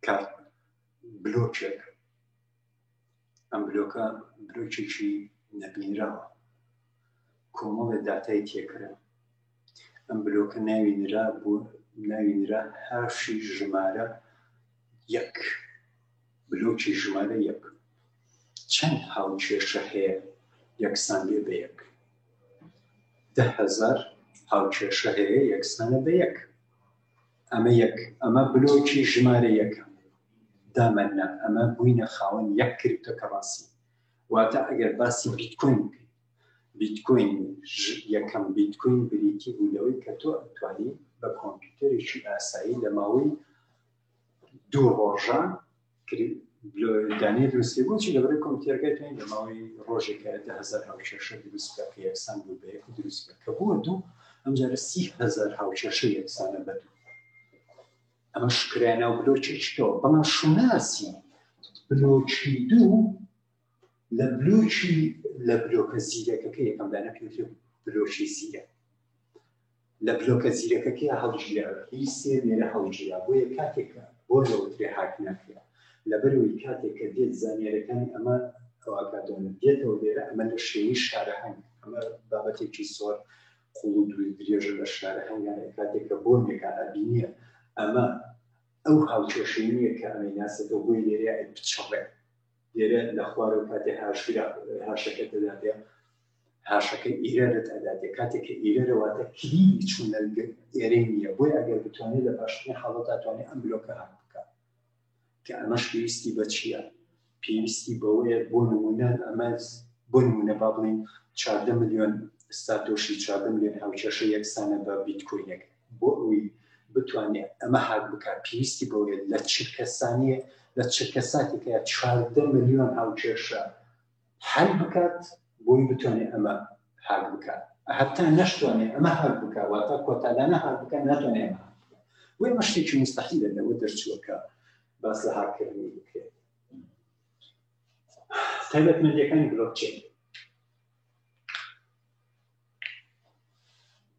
کارت بلۆکێک ئەم بلۆکە بلۆکێکی نەبینراوە کۆمەڵێ داتای تێکرا. ئەم بلۆکە ناوی نرا بۆ ناوی نرا هاشی ژمارە یەک بلۆکی ژمارە یەک چەند هاوکێشە هەیە یەکسانێ بە یەک دههزار هاوکێشە هەیە یەکسانە بە یەک ئەمە یەک ئەمە بلۆکی ژمارە یەکە دامەنا ئەمە بووینە خاوەن یەک کردەکە ڕاستی واتە ئەگەر باسی بیتکۆین بکەین بیتکۆین یەکەم بیتکۆین بریتی بوو لەوەی کە تۆ ئەتوانی بە کۆمپیوتەرێکی ئاسایی لە ماوەی دوو ڕۆژە دانێ دروستی بۆچی لە بەرەی کۆمپیوتەرەکەی توانین لە ماوەی ڕۆژێکە دە هزار هاوچێشە دروست بکە کە یەکسان بوو بە یەک دروست بکە کە بووە دوو ئەمجارە سی هزار هاوچێشە یەکسانە بە دوو ئەمە شکرای ناو بلۆکی چکەوە بەڵام شوناسی بلۆکی دوو لە بلۆکی لە بلۆکە زیرەکەکە یەکەمدانە پێ بلۆکی زیرە لە بلۆکە زیرەکەکە هەڵگیراوە هی سێ نێرە هەڵگیرا بۆیە کاتێکە بۆ لەوترێ هاک ناکرێت لەبەرەوەی کاتێک کە دێت زانیارەکانی ئەمە ئەوکاتۆن دێتەوە لێرە ئەمە لە شێوی شارەهنگ ئەمە بابەتێکی زۆر قوڵ و دووری درێژە لە شارە هەنگانێ کاتێک کە بۆنیەکان ئەبینێ ئەمە ئەو هاوکێشەی نییە کە ئەمەی ناسێتەوە بۆی لێرە بچڕێ لێرە لە خوارەوە کاتێ هاشگرا هاشەکە دەداتێ هاشەکە ئیرەرت ئەداتێ کاتێک کە ئیرەرەواتە کلیلی چوونەگە ئێرەی نییە بۆی ئەگەر بتوانێت لە باشترین حاڵەت داتوانێت ئەم بلۆکە هاک بکات کە ئەمەش پێویستی بە چییە؟ پێویستی بەوەیە بۆ نموونە ئەمە بۆ نموونە با بڵێین چاردە ملیۆن ساتۆشی چاردە ملیۆن هاوکێشە یەکسانە بە بیتکۆینێک بۆ ئەوی بتوانێت ئەمە هاک بکات پێویستی بەوەیە لە چرکە سانیە لە چرکە ساتێکە چاردە ملیۆن هاوکێشە حەل بکات بۆی بتوانێت ئەمە هاک بکات هەتا نەشتوانێت ئەمە هاک بکە واتە کۆتادانە هاک بکە ناتوانێت ئەمە هاک بکە وی ئەمە شتێکی مستحیلە لەوە دەرچووەکە باس لە هاکردنی بکرێت تایبەتمەندیەکانی بلۆکچین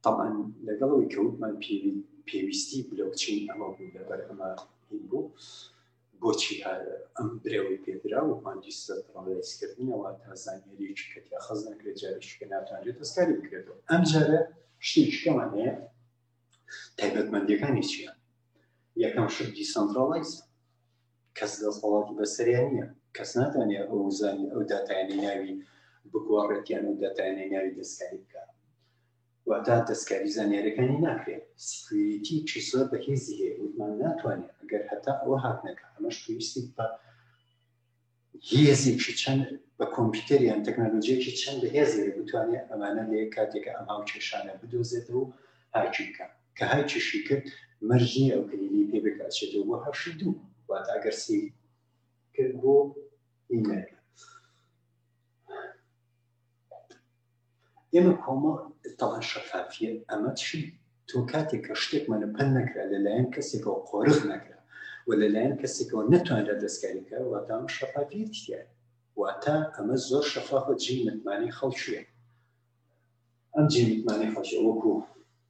تەبعەن لەگەڵ ئەوەی کە وتمان پێویستی بلۆکچین ئەمە بوو لەبەر ئەمە هین بوو بۆچی ئەم برەوەی پێدرا و مادیسەڵایزکردنەوە تا زانیاریەکی کە تیاخەز نەکرێت جارێکی کە ناتوانرێت دەستکاری بکرێتەوە ئەم جارە شتێکەمان هەیە تایبەتمەندەکانی چییە یەکەم شت دیسەنترالایز کەس دەسەڵاتی بەسەریان نییە کەس ناتوانێت ئەو زانانی ئەو داتایانی ناوی بگۆڕێتیان و دەتانێ ناوی دەستکاری بکات واتا دەستکاری زانیارەکانی ناکرێت سکوریتی چیسۆر بە هێزی هەیە وتمان ناتوانێت ئەگەر هەتا ئەوە هاک نەکە ئەمەش پێویستی بە هێزێکی چەند بە کۆمپیوتەریان تەکنەلۆژیەکی چەند بە هێزێ بتوانێت ئەمانە لێ کاتێکە ئەم هاو کێشانە بدۆزێتەوە هاکی بکات کە هەر چیشی کرد مەرج نییە ئەو کلیلی پێ بێت ئەچێتەوە بۆ هەشت دوو واتە ئەگەر سی کرد بۆ ئیمەیل ئێمە کۆمە تەڵان شەفافیە ئەمە چی تۆ کاتێک کە شتێکمان لە پەن نەکرا لەلایەن کەسێکەوە قۆرغ نەکرا و لەلایەن کەسێکەوە نەتوانرا دەستکاریکە واتام شەفافیت تیا واتە ئەمە زۆر شەفافە جی متمانی خەڵکیە ئەم جی متمانی خەڵکی وەکو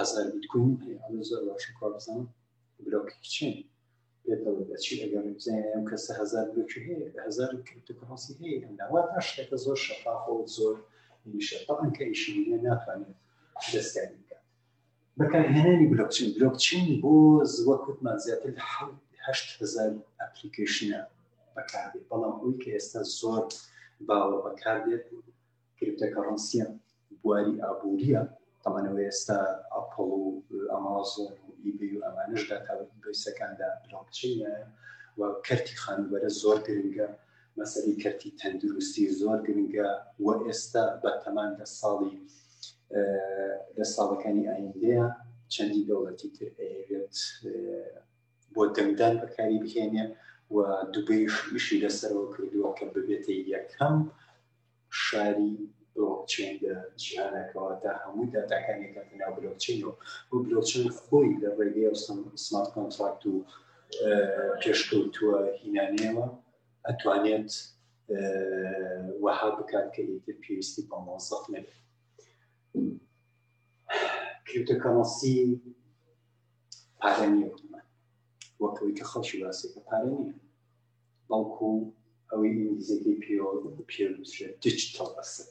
هەزار بیتکۆین هەیە ئەڵێ زۆر باشە کوا بزانم برۆکی چین پێت دەڵێ ئەچی ئەگەر بزانین ئەم کەسە هەزار برۆکی هەیە هەزار کریپتۆکڕەنسی هەیە ئەم داوا تا شتەکە زۆر شەفافە و زۆر نیشە تەعەن کە ئیشی بینە ناتوانێت دەستکاری بکات بەکارهێنانی بلۆکچین بلۆکچین بۆ زوە کوتمان زیاتر لە هەشت هزار ئەپلیکیشنە بەکاردێت بەڵام ئەوی کە ئێستا زۆر باوە بەکاردێت کریپتەکەڕەنسیە بواری ئابووریە تەمانەوە ئێستا ئەپڵ و ئەمازۆن و ئیبی و ئەمانش داتاویسەکاندا بلۆکچینە و کەرتی خانوبەرە زۆر گرنگە مەسەری کەرتی تەندروستی زۆر گرنگە و ئێستا بە تەمان لە ساڵی لە ساڵەکانی ئایندەیە چەندی دەوڵەتی تر ئەوێت بۆ دەنگدان بەکاری بهێنێ و دوبێش ئیشی لەسەرەوە کردووە کە ببێتە یەکەم شاری بلۆکچەین لە جیهانە کەواتە هەموو داتاکان یەکاتە ناو بلۆکچەینەوە بۆ بلۆکچەین خۆی لە ڕێگەی و سمارت کۆنتراکت و پێشکەوتووە هینانەوە ئەتوانێت وەها بکات کە ئیتر پێویستی بە مۆزەف نەبێت کریپتۆکەمەسی پارە نیە وەکەوەی کە خەڵکی باسێکە پارە نیە بەڵکو ئەوەی ئینگلیزیەکەی پێوە پێوترێت دیجیتەڵ ئەسد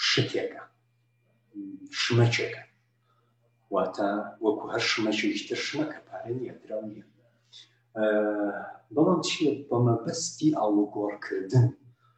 شتێکە شمەکێکە واتە وەکو هەر شمەکێکی تر شمەکە پارە نیە درا نیە بەڵام چیە بەمەبەستی ئاڵوگۆڕکردن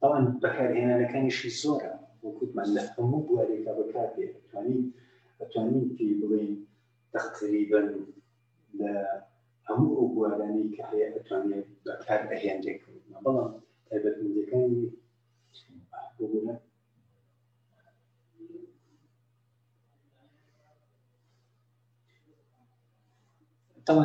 بەڵام بەکارهێنانەکانیشی زۆرە وەکوتمان لە هەموو بوارێکا بەکاردێ توانین ئەتوانین پێ بڵێین تقریبا لە هەموو ئەو بوارانەی کە هەیە ئەتوانێت بەکار ئەهێنرێک بەڵام تایبەتمەندەکانی بگونە طبعا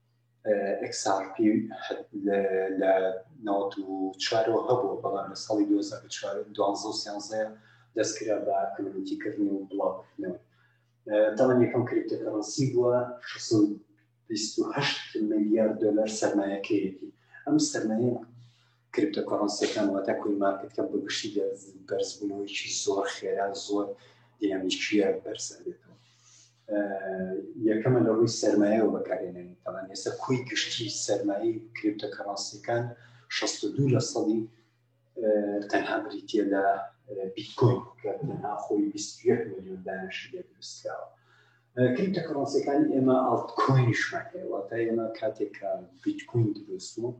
XRP لە ناوت و چوارەوە هەبوو بەڵام لە ساڵی 2012 دەستکرا بە کمیونیتیکردن و بڵاوکردنەوە دەڵێن یەکەم کریپتۆکەڕەنسی بووە 628 ملیار دلار سەرمایەکەیەتی ئەم سەرمایە کریپتۆکۆڕەنسیەکان واتە کوین مارکتکە بە گشتی بەرزبوونەوەیکی زۆر خێرا زۆر دینامیکیە بەرزە بێتەوە یەکەمە لە ڕووی سەرمایە و بەکارێنەوە تەوان ئێستا کوی گشتی سەرمایی کریپتۆکەڕەنسیەکان 62 لە سەدی تەنها بریتە لە بیتکۆین کە تەنها خۆی 21 میلیۆن دانش دروستکراوە کریپتۆکەڕەنسیەکانی ئێمە ئاڵتکۆینیشمان هەیە واتە ئێمە کاتێک بیتکوین دروست بوو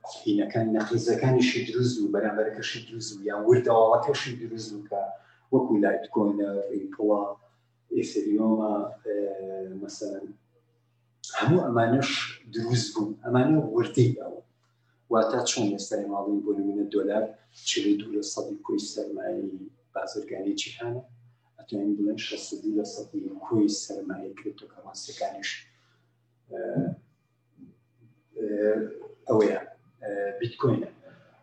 قوتبینەکان نەقیزەکانیشی دروست و بەرامبەرەکەشی دروست و یان وردەواڵەکەشی دروست و کە وەکو لایت کۆنە ڕیپڵە ئێسریۆمە مەسەن هەموو ئەمانەش دروست بوون ئەمانە وردەی ئەوە واتە چۆن ئێستای ماڵین بۆ نمونە دۆلار چ دوو لە سەدی کوی سەرمایی بازرگانی جیهانە ئەتوانین بڵێن شەستی لە سەدی کوی سەرمایە کرێتۆکەماسەکانیش ئەوەیە بیتکۆینە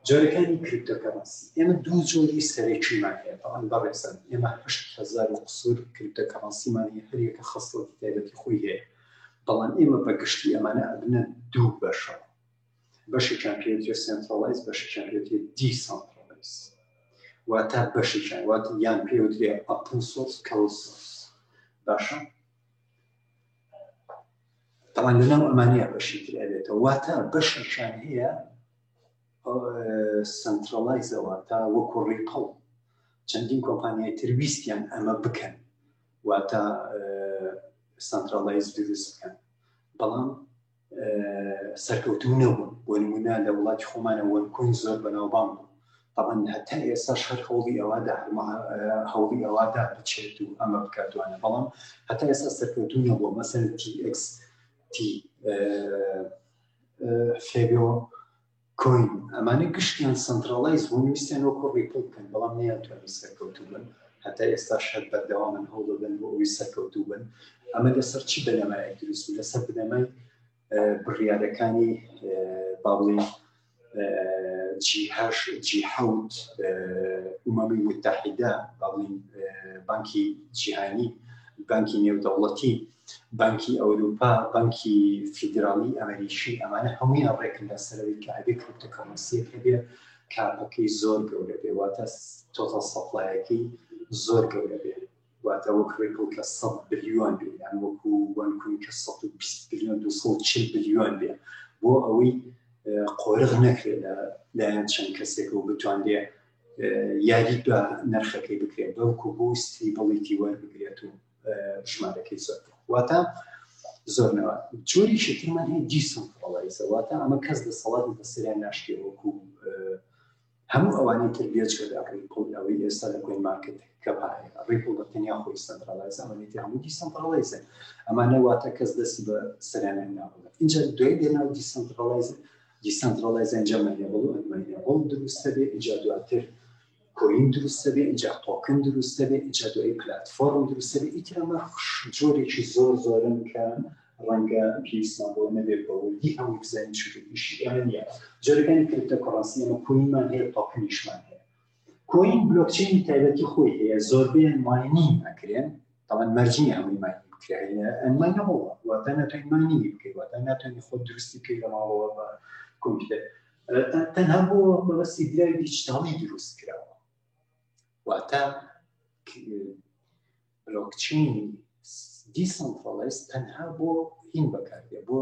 جۆرەکانی کریپتۆکەرەنسی ئێمە دوو جۆری سەرەکیمان هەیە بەڵام بەڕێزن ئێمە هەشت هزار و قسوور کریپتۆکەرەنسیمان هەیە هەر یەکە خەسڵەتی تایبەتی خۆی هەیە بەڵام ئێمە بە گشتی ئەمانە ئەبنە دوو بەشە بەشێکیان پێوترێت سنترالایز بەشێکیان پێوترێت دیسانترالایز واتە بەشێکیان واتە یان پێوترێت ئەپڵ سۆس کەڵ سۆس باشە تاوان لەناو ئەمانە بەشی تر ئەبێتەوە واتە بەشیشان هەیە سنترالایزەوە تا وەکو ڕیقڵ چەندین کۆمپانیای ترویستیان ئەمە بکەن واتە سنترالایز دروست بکەن بەڵام سەرکەوتوو نەبوون بۆ نمونە لە وڵاتی خۆمانە وەرکوین زۆر بەناوبان بوو طبعا هەتا ئێستا شەر هەوڵی ئەوەدا هەوڵی ئەوەدا بچێت و ئەمە بکاتوانە بەڵام هەتا ئێستا سەرکەوتوو نەبووە مەسەر TX تی فێبەوە کۆین ئەمانە گشتیان سەنتراڵایز بوون ویستیان وەکو ڕیپڵ بکەن بەڵام نەیانتوانی سەرکەوتوو بن هەتا ئێستاش هەر بەردەوامن هەوڵدەدەن بۆ ئەوەی سەرکەوتوو بن ئەمە لەسەر چی بنەمایەک دروست بوو لەسەر بنەمای بڕیارەکانی باڵی جیهش جیحوت ئومەمی متحیدە باڵی بانکی جیهانی بانکی نێودەوڵەتی بانکی ئەوروپا، بانکی فیدراڵی ئەمەریکی، ئەمانە هەموویان ڕێکن لەسەرەوەی کە ئەبێ کریپتۆکەرەنسیەک هەبێ کاپەکەی زۆر گەورە بێ واتە تۆتەڵ سەپلایەکەی زۆر گەورە بێ واتە وەک ڕێپڵ کە سەد بلیۆن بێ یان وەکو وەنکوین کە سەد و بیست بلیۆن دوو سەد و چل بلیۆن بێ بۆ ئەوەی قۆرغ نەکرێ لە لایەن چەند کەسێک و بتوانرێ یاری بە نرخەکەی بکرێت بەڵکو بۆ ستیبڵیتی وەربگرێت و ژمارەکەی زۆر واتە زۆرنەوە جۆری شتمان هەیە دیسم فڵایسە واتە ئەمە کەس لە سەڵات بە سریان ناشتێ وەکو هەموو ئەوانی تر بێچکەداکەی قوڵ ئەوەی ئێستا لە گوێن مارکت کە پاێ ڕیپڵ بە تەنیا خۆی سەنتراڵایز ئەمەێت هەموو دیسەنتراڵایزە ئەمانە واتە کەس دەستی بە سەرانە ناوڵە اینجا دوای دێناو دیسەنتراڵایزە دیسەنتراڵایز ئەنجامەیە بڵ ئەمەیە بڵ دروستە بێ ئیجا دواتر کۆین دروستە بێ ئینجا تۆکن دروستە بێ ئینجا دوایی پلاتفۆرم دروستە بێ ئیتر ئەمە جۆرێکی زۆر زۆرن کە ڕەنگە پێویستمان بۆ نەبێت بە وردی هەموو بزانین چونکە ئیشی ئێمە نییە جۆرەکانی کریپتە کۆڕەنسی ئەمە کۆینمان هەیە تۆکنیشمان هەیە کۆین بلۆکچینی تایبەتی خۆی هەیە زۆربەیان ماینینگ ئەکرێن تاوان مەرجی نیە هەمووی مای بکرێ مای نەبەوە واتە ناتوانین مای نیوی بکەی واتە ناتوانین خۆ دروستی بکەی لە ماڵەوە بە کۆمپیوتەر تەنها بۆ مەبەستی دراوی دیجیتاڵی دروست کراوە واتە بلۆکچین دیسەڵفەڵێس تەنها بۆ هین بەکاردێ بۆ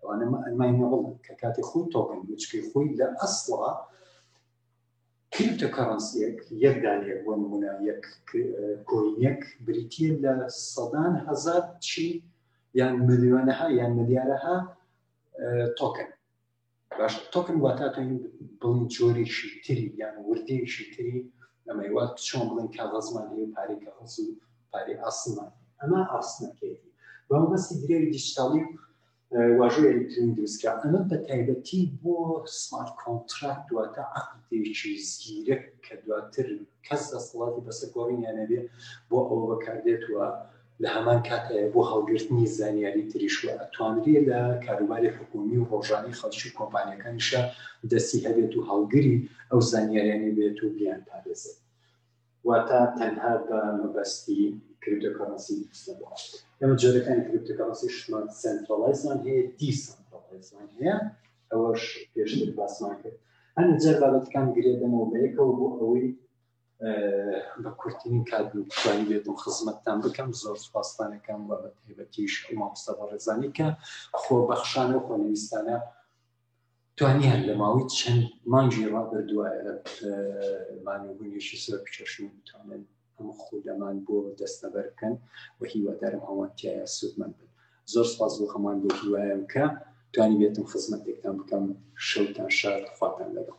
ئەوانە ماینەبڵ کە کاتی خۆی تۆکن وچکەی خۆی لە ئەسڵا کریپتە کەڕەنسیەک یەک دانەیە بۆ نمونە یەک کۆینەک بریتە لە سەدان هزار چی یان ملیۆنەها یان ملیارەها تۆکن باش تۆکن واتا تۆ بڵین جۆرێکی تری یان وردەیەکی تری ئەمە وا چۆن بڵین کاغەزمان هەیە پارەی کاغەز و پارەی ئاسمان ئەمە ئاسنەکەیتی بەم بەسی درێوی دیجیتاڵی واژۆ ئەلیکترین دروستکە ئەمە بە تایبەتی بۆ سمارت کۆنتراکت دواتە عقدێکی زیرەک کە دواتر کەس دەسەڵاتی بەسەر گۆڕینیانەبێ بۆ ئەوە بەکاردێت وە لە هەمان کاتدا بۆ هەڵگرتنی زانیاری تریش و ئەتوانرێ لە کاروباری حکوومی و ڕۆژانەی خەڵکی و کۆمپانیاکانیشا دەستی هەبێت و هەڵگری ئەو زانیاریانە بێت و بیانپارێزێت. واتە تەنها بە مەبەستی کریپتۆکەڕەنسی دروستە بۆ ئەو. ئێمە جۆرەکانی کریپتۆکەڕەنسیشمان سەنترەڵایزمان هەیە، دیسەنترەڵایزمان هەیە، ئەوەش پێشتر باسمان کرد. هەندێ جار بابەتەکان گرێ دەمەوە بە یەکەوە بۆ ئەوەی بە کورتترین کات بتوانی بێت و خزمەتتان بکەم زۆر سوپاستانەکەم و بە تایبەتیش مامۆستا بەڕێزانی کە خۆبەخشانە و خۆنویستانە توانیان لە ماوەی چەند مانگی ڕابردوایە مانەبوونیشی زۆر بچەشن بتوانن ئەم خودەمان بۆ دەستەبەر بکەن و هیوادارم هەوانتیایە سوودمەند بن زۆر سپاس بۆ هەمان بۆ هیوایم کە توانی بێتم خزمەتێکتان بکەم شەوتان شار خواتان لەگەڵ